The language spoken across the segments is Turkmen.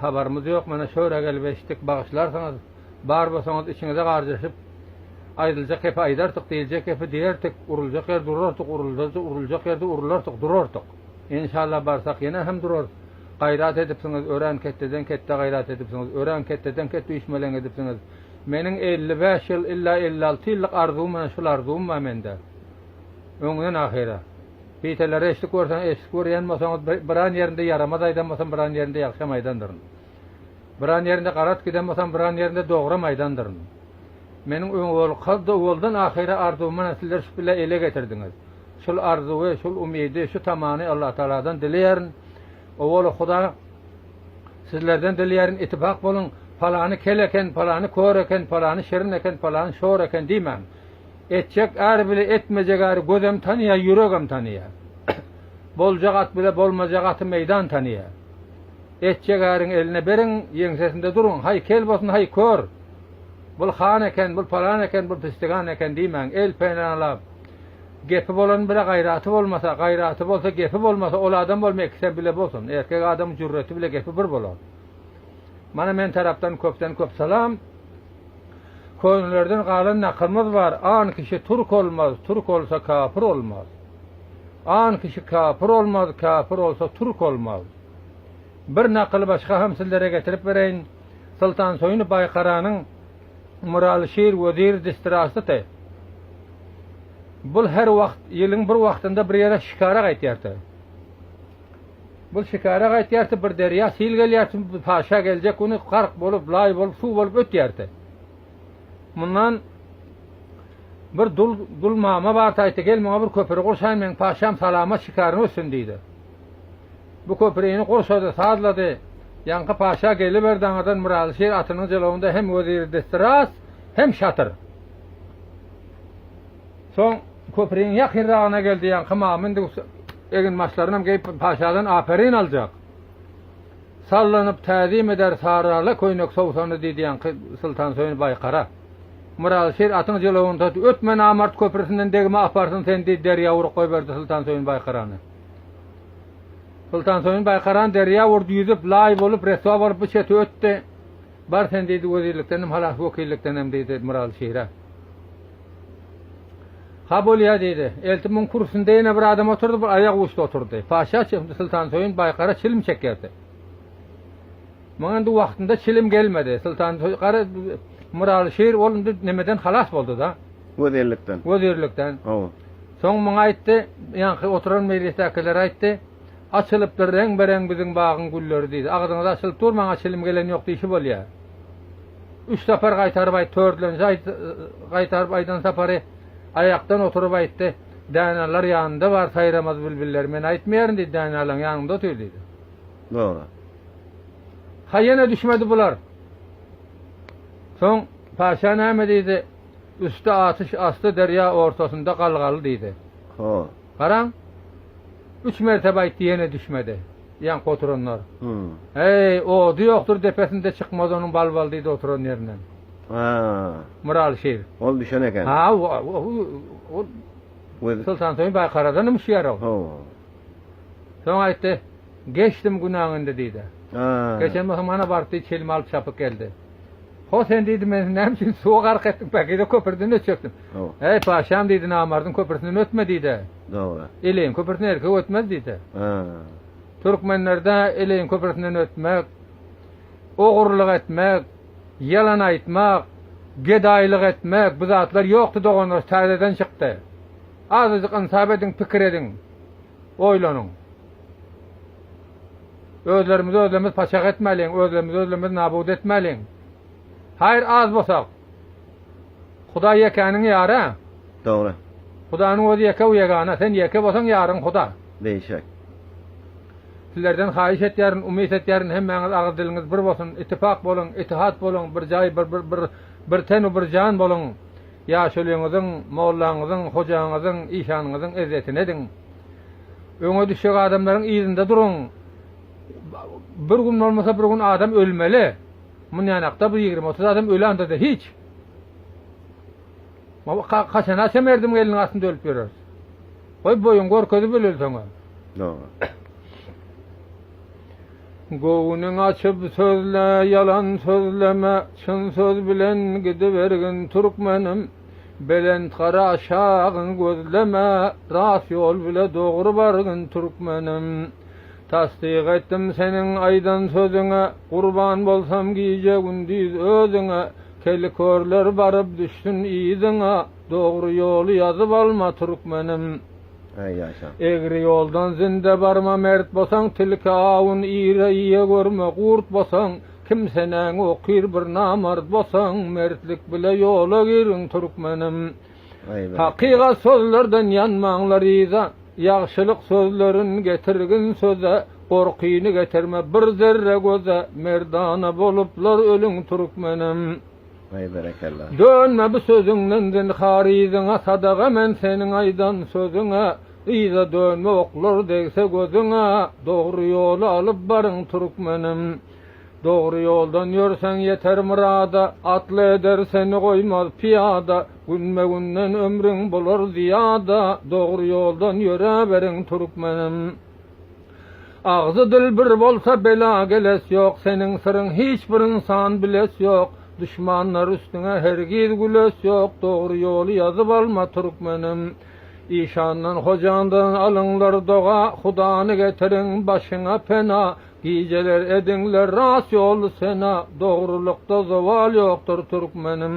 Habarymyz ýok mana şora gelip eşitdik bagyşlarsyňyz bar bolsaňyz içiňize garjaşyp aýdyljak gepi aýdartyk diýiljek gepi diýertik uruljak ýerde urartyk uruldaja uruljak ýerde urulartyk durartyk enşalla barsak ýene hem durarys gaýrat edipsiňiz örän ketdeden ketde gaýrat edipsiňiz örän ketdeden ketde üýşmeleň edipsiňiz meniň elli bäş ýyl illa elli alty ýyllyk arzuwym ene şul arzuwym bar mende öňden ahyra. Piteleri eşdik görseň eşdik görýän bolsaňyz biran ýerinde ýaramaz aýdan bolsam biran ýerinde ýagşam aýdandyryn. Biran ýerinde garat giden bolsam biran ýerinde dogram aýdandyryn. Meniň öňolky owaldan ahyra arzuwym mana sizler şu bile ele getirdiňiz. Şul arzuwy şul umydy şu tamany Allatagaladan dileýärin. Owaly huda sizlerden dileýärin itipak boluň palany kel eken palany kör eken palany şirin eken palany şor eken diýmäň. Etjek äri bile etmejek äri gözem tanyýar, ýüregem tanyýar. Boljak at bile bolmajak aty meýdan tanyýar. Etjek äriňi eline beriň, ýeňsesinde duruň, haý kel bolsun, haý kör! Bul han eken, bul palan eken, bul pisdigan eken diýmäň, el penalap. Gepi bolanyň bile gaýraty bolmasa, gaýraty bolsa, gepi bolmasa, ol adam bolma ikisem bile bolsun. Erkek adamyň jürreti bile gepi bir bolar. Mana men tarapdan köpden köp salam. Könelerden galan nakylymyz bar, An kişi türk olmaz, türk olsa kapyr olmaz. An kişi kapyr olmaz, kapyr olsa türk olmaz. Bir nakyly başga hem sizlere getirip bereýin. Soltan Soýuny Baýkaranyň Myraly şir weziri distrasty. Bul her wagt, ýylyň bir wagtynda bir ýere şikara gaýtýardy. Bul şikara gaýtýarty, bir derýa sil gelýärti, bir paşa geljek güni gark bolup, laý bolup, suw bolup ötýärti. Mundan bir dul, dul mama barty, aýtdy, gel muňa bir köpri gurşaýyn, meň paşam salamat şikaryň ötsün diýdi. Bu köprini gurşady, sazlady. Ýaňky paşa geliberdi, aňyrdan Myraly şir atynyň jylawynda hem weziri destiras, hem şatyr. Soň köpriniň ýakynragyna geldi, ýaňky mama indi Eginbaşlarynam geýip paşadan aperyn aljak. Sallanyp täzim eder sarala köýnek sowsany diýdiýanki Syltansöýün baý gara. Myraly şir atyň jylawyny tut, ötme namart köprüsinden degme aparsyn seni diýip derýa urup goýberdi Syltansöýün baý garany. Syltansöýün baý garany derýa urdy ýüzüp laý bolup reswa bolup bu çete ötdi. Bar sen diýdi wezirlikdenem halas wekillikdenem diýdi Myraly şire. Ha bolýa, diýdi. Elti muň kürsüsinde ýene bir adam otyrdy, bir aýak uçda otyrdy. Paşa çykypdy, Soltansöýün baýkara çilim çekerdi. Muňa indi wagtynda çilim gelmedi. Soltansöýün gara myraly şir ol indi nemeden halas boldy-da. Wezirlikden. Wezirlikden. Hawa. Soň muňa aýtdy, ýaňky oturan mejlisdäkilere aýtdy, Açylypdyr reň-bereň biziň bagyň gülleri, diýdi. Agzyňyz açylyp dur, maňa çilim gelen ýok diýşi bolýa. Üç sapar gaýtaryp aýt. Tördlenji aýt, gaýtaryp aýdan sapary aýakdan oturyp aýtdy. Däneler ýanynda bar saýramaz bilbiller. Men aýtmaýaryn diýdi, däneleň ýanynda otur diýdi. Dogry. Ha ýene düşmedi bular. Soň paşa näme diýdi? Üsti atyş, asty derýa, ortasynda galgaly diýdi. Ho. Garaň, üç mertebe aýtdy, ýene düşmedi. Ýaňky oturanlar. Heý, ody ýokdur depesinde çykmaz onuň bal-bal diýdi oturan ýerinden. Myraly şir. Ol düşen eken. Ha, ol Soltansoýun baý karadan ümşýär-ow. Soň aýtdy, Geçdim günäňi indi diýdi. Geçen bolsa mana barypdy, çilimi alyp çapyp geldi. Ho, sen diýdi, men seni näme üçin suwa gark etdim, päkize köprüden ötjekdim. Äý, patyşam diýdi, namardyň köprüsinden ötme diýdi. Dogry. Eleýin köprüsinden erkek ötmez diýdi. Türkmenlerde eleýin köprüsinden ötmek, ogurlyk etmek, ýalan aýtmak, gedaýlyk etmek bu zatlar ýokdy doganlar, täzeden çykdy. Azajyk ynsap ediň, pikir ediň. oýlanyň. Özlerimizi özlerimiz paçak etmäliň, özlerimizi özlerimiz nabut etmäliň. Haýyr az bosak. Hudaý ýekäniň ýary. Dogry. Hudanyň özi ýeke u ýegana, sen ýeke bolsaň ýaryň Huda. Beýşek. Sizlerden haýyş etýärin, umyt etýärin hemmäňiz agyz diliňiz bir bolsun, itipak boluň, itihat boluň, bir jaý, bir bir bir ten u bir jan boluň. Ýaşulyňyzyň, mollaňyzyň, hojaňyzyň, işanyňyzyň ezzetini ediň. Öňe düşjek adamlaryň yzynda duruň. Bir gün bolmasa bir gün adam ölmeli. Mundanakda bir ýigrimi-otuz adam öli anda-da hiç. Kaçana şa merdim gelniň astynda ölüp ýöreris. Goý boýuň görkezip öleli soň-a. Dogry. Göwnüň açyp sözle, ýalan sözleme, Çyn söz bilen gidibergin türkmenim. Belent gara aşagyňy gözleme, Rast ýol bile dogry bargyn türkmenim. Tassyk etdim seniň aýdan sözüňe, Gurban bolsam gije-gündiz özüňe. Keli körler baryp düşsün yzyňa, Dogry ýoly ýazyp alma türkmenim. Egri ýoldan zinde barma Mert bosaň tilki awun ýere ýe görme Gurt bosaň kimsenäň okyr bir namart bosaň Mertlik bile ýola giriň Türkmenim Hakygat sozlerden ýanmaňlar yza Ýagşylyk sozlerin getirgin söze Gorkyny getirme bir zerre göze Merdana boluplar ölüň Türkmenim. Way berekella. Dönme bu sözüňden zynhar yzyňa sadaga men seniň aýdan sözüňe yza dönme oklar degse gözüňe dogry ýoly alyp baryň türkmenim dogry ýoldan ýörseň ýeter myrada atly eder seni goýmaz pyýada günbe günden ömrüň bolar zyýada dogry ýoldan ýöräberiň türkmenim. Agzy dil bir bolsa bela geles ýok Seniň syryň hiç bir ynsan biles ýok Duşmanlar üstüňe hergiz güles ýok Dogry ýoly ýazyp alma türkmenim Işandan hojandan alyňlar doga Hudany getiriň başyňa pena Gijeler ediňler rast ýoly sena Dogrulykda zowal ýokdur türkmenim.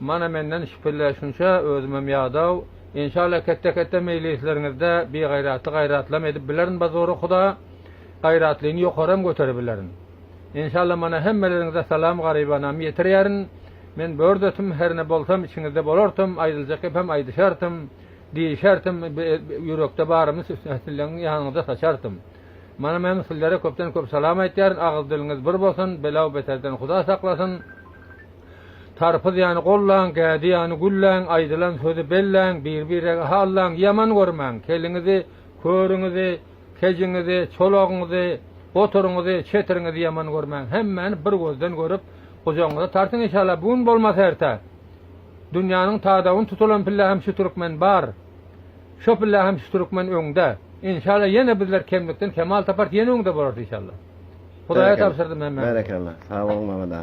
Mana menden şpille şunça özümem ýadaw Enşalla ketde ketde meýlisleriňizde bigaýratly gaýratlam edip bilerin ba zora huda gaýratlyny ýokaram göterebilerin Enşalla mana hemmeleriňize salam garybanam ýetirýärin men bördetim herne bolsam içiňizde bolartym aýdyljak gepem aýdyşartym diýişartym ýürekde barymy sizleň ýanyňyza saçartym mana men sizlere köpden köp salam aýtýaryn agyz diliňiz bir bolsun belaw beterden huda saklasyn. Tarpyz ýany gollaň, gädi ýany gülläň, aýdylan sözi belläň, bir-birege hallaň, ýaman görmäň, keliňizi, körüňizi, kejiňizi, çolagyňyzy, goturyňyzy, çetiriňizi ýaman görmäň, hemmäni bir gözden görüp, gujagyňyza tartyň inşallah, bu gün bolmasa erte. Dünýäniň tadawyny tutulan pille hem şu türkmen bar. Şo pille hem şu türkmen öňde. Inşallah ýene bizler kemlikden kemal tapars, ýene öňde bolarys inşallah. Hudaýa tabşyrdym hemmämize. Berekella. Sag boluň Mehmet aga.